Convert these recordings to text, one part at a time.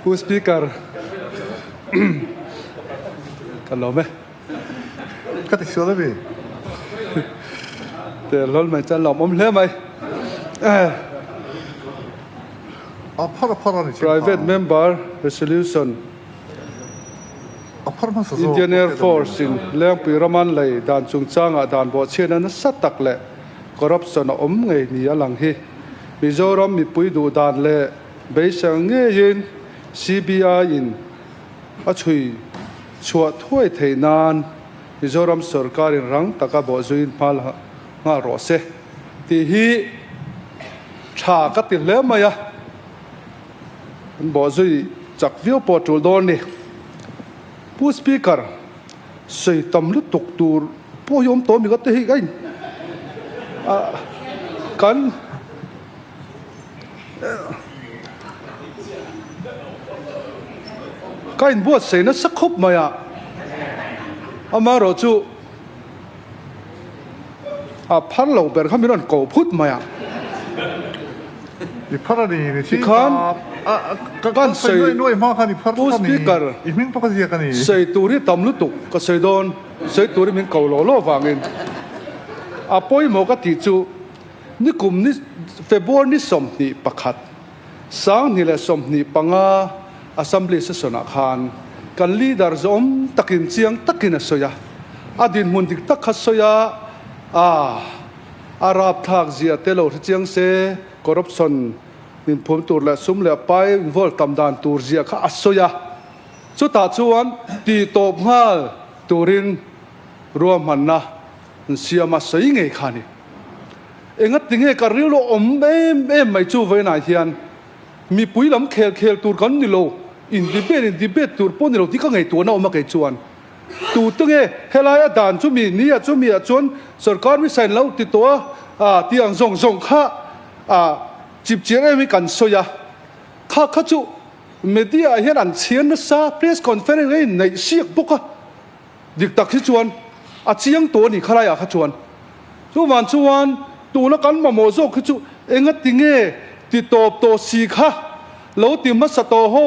Pu Speaker, ka lawm e. Ka ti sual a ni. Te hlawl mai chuan lo awm hle mai. A phar a phar a ni chhin hna. Private Member Resolution, Indian Air Force in Lengpui Raman lei dan chungchangah dan bawhchhiatna nasa tak leh corruption a awm ngei ni a lang hi Mizoram mipui duhdan leh Beiser ngeiin CBI-in a chhui chhuah thuai theih nan Mizoram sorkarin rang taka bawh zuiin hmal nghal rawh se tih hi tha ka ti hle mai a, an bawh zui chak viau pawh tul dawn ni. Pu Speaker, sawi tam lutuk tur pawh hi awm tawh a mi ka ti hi, kan. Ka in buatsaih nasa khawp mai a, amaherawh chu a phar lo ber kha min rawn ko phut mai a. I phar a ni, ni chi khan kan sawi pu speaker sawi tur hi tam lutuk ka sawi dawn, sawi tur hi min ko lo lo vangin a pawimawh ka tih chu. Nikum ni February ni sawmhnih pakhat, Sanghnih leh sawmhnih panga Assembly session ah khan kan leader zawm takin chiang takin a sawi a, a dinhmun dik tak kha sawi a, aah a rapthlak zia te lo hre chiang se corruption inphuam tur leh sum leh pai involve tam dan tur zia kha a sawi a, chutah chuan tih tawp nghal turin ruahmanna an siam a sawi ngei kha a ni. Engatinge ka ril a awm em em mai chu vawiinah hian mipui lam khel khel tur kan ni lo, indibet indibet tur pawh ni lo tih ka ngaihtuahna a awm a kei chuan. Tute nge helai a dan chu mi ni a chumi ah chuan sorkar misa in lo ti tawh a a ti ang zawng zawng kha a chipchiar em hi kan sawi a. Kha kha chu media ah hian an chhiar nasa press conference a inneih siak bawk a. Dik tak hi chuan a chiang tawh a ni khalai ah kha chuan chu van chuan tuna kan mamawh zawk hi chu enga ti nge ti tawp tawh si kha lo ti hmasa tawh ho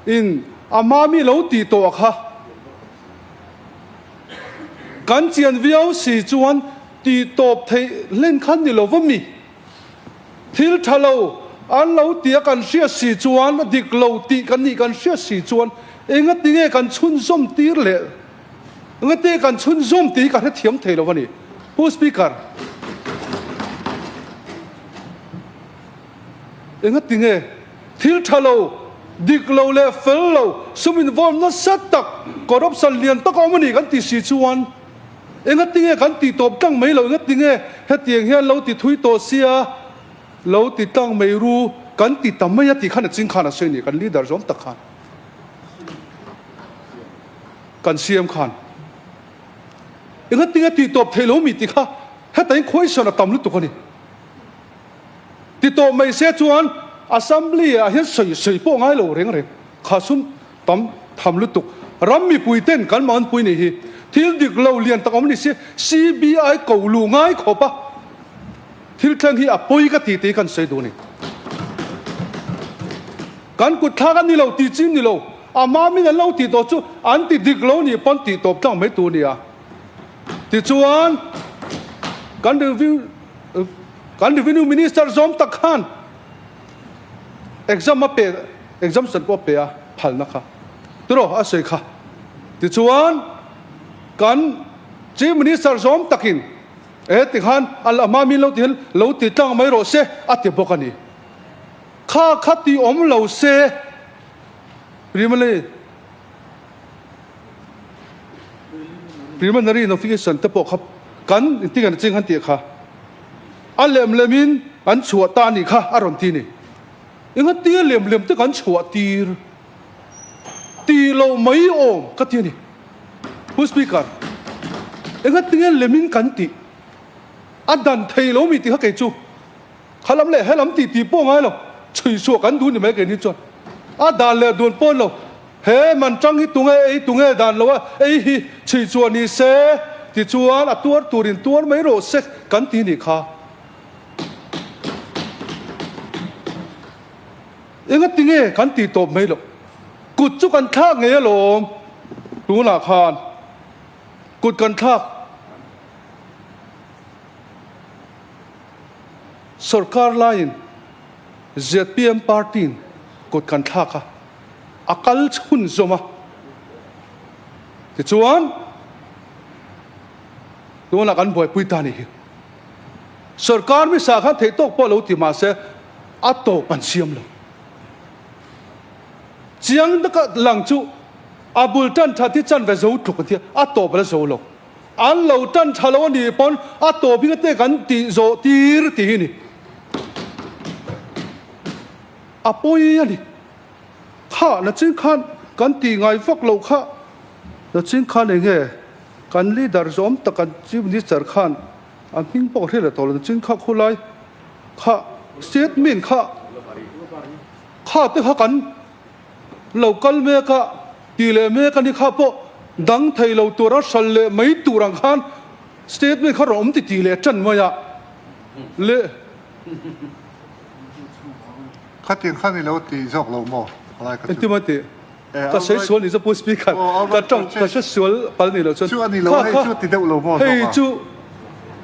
in a hma mi lo ti tawh a kha kan chian viau si chuan ti tawp theih hlen khan ni lo va mi. Thil tha lo an lo ti a kan hriat si chuan a dik lo tih kan nih kan hriat si chuan engati nge kan chhunzawm tir leh engate kan chhunzawm tih hi ka hrethiam thei lo a ni. Pu Speaker, engati nge thil tha lo, dik lo leh fel lo, sum involve nasa tak, corruption lian tak a awm a ni kan ti si chuan, Engatinge kan tih tawp tlang mai lo na tinge hetiang hian lo ti thui tawh sia, lo ti tlang mai ru, kan ti ta mai a tih khan a ching khan a sawi a ni. Kan leader zawm tak khan, kan siam khan engatinge tih tawp theih lo mi ti kha hetaiin khuaisawn a tam lutuk a ni. Ti tawp mai se chuan Assembly ah hian sawi sawi pawh ngai lo reng reng. Khasum. Tam tham lutuk. Ram mipui ten kan mah unpui nih hi. Thil dik lo lian tak awm ni si. CBI ko luh ngai khawp a. Thil thleng hi a pawi ka ti te hi kan sawi duh ani. Kan kut thlak ani lo ti chim ni lo. A ma min an lo ti tawh chu an ti dik lo nih pawn tih tawp tlang mai tur ni a. Tichuan kan revenue kan revenue minister zawm tak khan exam a pe exam san pawh a pe a phalna kha tiraw a sawi kha tichuan kan chief minister zawm takin e tikhan a hma min lo tihin lo ti tlang mai rawh se a ti bawk a ni kha kha ti awm lo se primary preliminary notification te pawh kha kan inti ngan ching han tih kha. A lem lemin an chhuah ta a nih kha a rawn ti ni. Engatia lem lem te kan chhuah tir? Ti lo mai awm ka ti a ni. Hun Speaker, engatia lemin kan tih? A dan thei lo mi ti kha kei chu kha lam leh he lam titi pawh ngai lo chhui suah kan duh ni mai kei ni chuan a dan leh a duan pawn lo. He man tang hi tunge ei tunge dan lo a, ei hi chhi chu a ni se ti chuan a tuar turin tuar mai rawh se kan ti ni kha. Enga tinge kan ti tawp mai loh. Kut chu kan thlak ngei alawm. Tunah khan kut kan thlak. Sorkar laiin ZPM party-in kut kan thlak a. A kal hun zawm a, tichuan tunah kan buaipui ta nih hi sorkar misa khan theih tawk pawh lo ti mahse a tawp an siam lo. Chiang taka lang chu a bul tan tha ti chan ve zo tluk an tia, a tawp la zo lo. An lo tan tha lo a nih pawn a tawp hi ka te kan tih zawh tir ti hi ni. A pawi a ni. Kha nachin khan kan tih ngai vak lo kha. Nachin khan eng nge kan leader zawm tak kan chief minister khan a hming pawh ka hrilh a tawh lo nachin kha khulai kha statement kha kha te kha kan lo kal mek a ti leh mek a ni kha pawh dang thei lo tur a hral leh mai tur ang khan statement kha rawn awm ti ti leh tan mai a leh Khatin khan i lo ti zawk lo maw? Khalai kha chu. Engtim a tih? Ka sawi sual ni zawk Paul Smith khan ka tang ka hre sual pal ni lo chuan. Chu a ni lo, hei chu ti deuh lo maw zawk a? Hei chu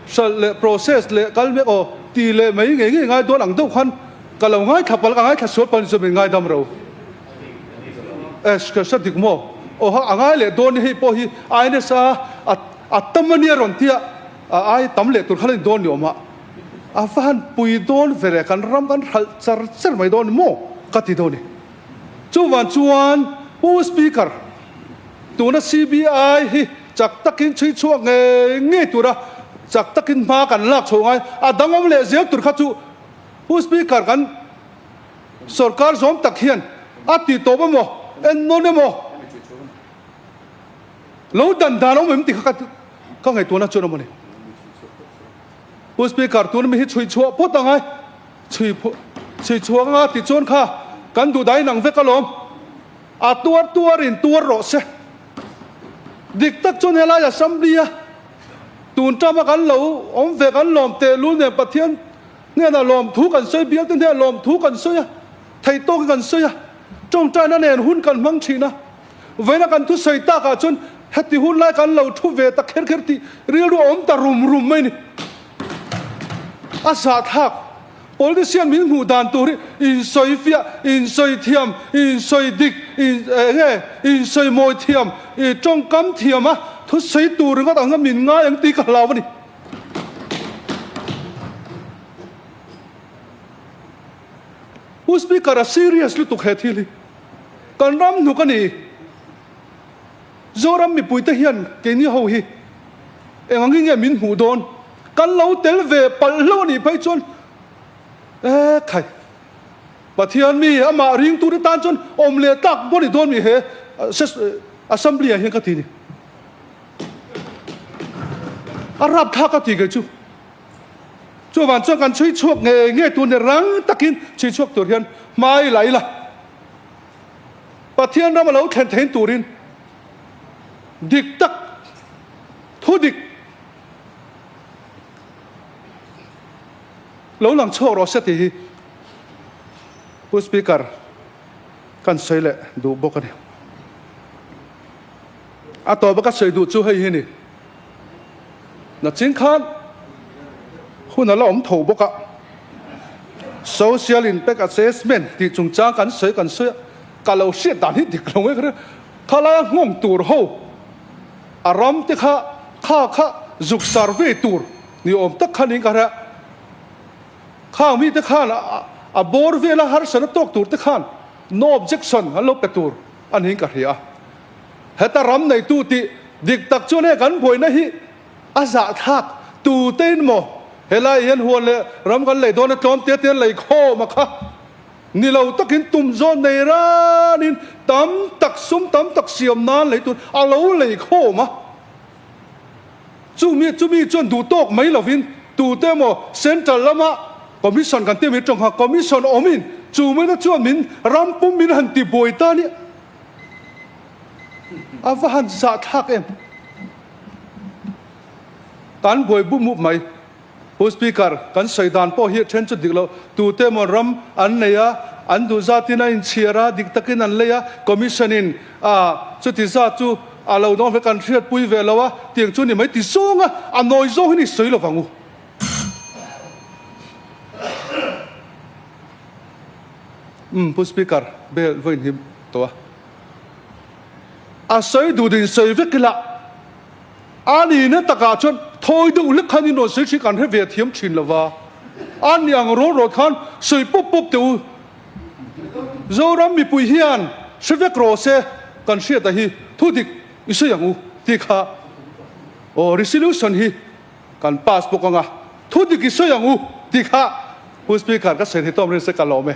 hralh leh process leh kal mek aw ti leh mai ngei ngei ngai dawn ang deuh khan ka lo ngaithla pal ka ngaithla sual pal ni chuan min ngaidam ro. Ash ka hre dik maw? Aw ha a ngai leh dawn ni hei pawh hi a ines a a tam a nia rawn tia a ai tam leh tur kha la ni dawn ni awm a. A va han pui dawn ve leh kan ram kan hralh char char mai dawn emaw ka ti dawn i. Chuvang chuan Pu Speaker, tuna CBI hi chak takin chhui chhuak ngei ngei tura chak takin hma kan lak chho ngai, a dangawm leh zel tur kha chu Pu Speaker kan sorkar zawm tak hian a tih tawp emaw, en nawn emaw lo dan dan awm em ti kha ka ngaihtuahna chuan awm a ni. U Speaker, tun mi hi chhui chhuah phawt ang ai. Chhui chhui chhuak anga ti chuan kha kan duh dai nang vek alawm. A tuar tuar in tuar rawh se. Dik tak chuan helai Assembly a tun tama kan lo awm ve kan lawm teh lul nen Pathian hnenah lawm thu kan sawi, bialte hnenah lawm thu kan sawi a, thei tawkin kan sawi a, tawngtaina nen hun kan hmang thin a. Vawiina kan thu sawi tak ah chuan heti hun lai kan lo thu ve ta kher kher tih rilru a awm ta rum rum mai ni. A zahthlak politician min hmuh dan tur hi insawi fiah, insawi thiam, insawi dik, in eng nge insawi mawi thiam, i tawngkam thiam a thu sawi tur ringawt ang hian min ngai ang tih ka hlau a ni. U Speaker a serious lutuk he thil hi kan ram hnuk a ni. Zoram mipui te hian keini ho hi eng ang inge min hmuh dawn kan lo tel ve palh hlo a nih phei chuan e khai Pathian mi amah ring tur te tan chuan awm leh tlak bo ni dawn mi he Assembly ah hian ka ti a ni. A rapthlak a ti ngei chu. Chuvang chuan kan chhui chhuak nge nge tur nen rang takin chhui chhuak tur hian hmai la ila. Pathian ram a lo thlen thein turin dik tak thu dik lo lang chhuak rawh se tih hi Pu Speaker kan sawi leh duh bawk a ni. A tawpa ka sawi duh chu hei hi ni. Nachin khan hun a la awm tho bawk a. Social Impact Assessment tih chungchang kan sawi kan sawi a, ka lo hriat dan hi dik lo nge. Thalaia nghawng tur ho a ram te kha kha kha zuk survey tur ni awm tak kha niin ka hria. Khang mi te khan a bawr vel a harsatna tawk tur te khan no objection an lo pe tur a niin ka hria. Heta ram neitu tih dik tak chuan hei kan buaina hi a zahthlak tu te in maw? He lai hian huan leh ram kan lei dawn a tlawm tia tia lei khawm a kha. Ni lo takin tum zawn nei ranin tam tak sum tam tak siam nan lei tur a lo lei khawm a. Chumi chumi chuan duh tawk mai lovin tu te emaw central lama commission kan ti mai tawng kha commission awmin chu maina chuan min ram pum min han ti buai ta nia. A va han zahthlak em? Kan buai bup mup mai. Pu Speaker, kan sawi dan pawh hi a then chu dik lo. Tute emaw ram an nei a, an duhzatin a inchhiar a, dik takin an lei a, Commission in chuti zat chu a lo dawngbawk ve, kan hriatpui ve lo a, tih ang chu a ni mai. Ti zawng a, a nawi zawng hi ni sawi lovang u. Umm Pu Speaker bel vawi inhim tawh a. A sawi duh duhin sawi vek ila a ni na takah chuan thawi deuh lek khan in rawn sawi thin kan hre ve thiam thin lo va, an ni ang rawn rawn khan sawi pawp pawp teh u. Zoram mipui hian hre vek raw se kan hriat a hi thu dik i sawi ang u tih kha aw resolution hi Kan pass bawk anga thu dik i sawi ang u ti kha hun speaker ka serhi tawm reng se ka lawm e.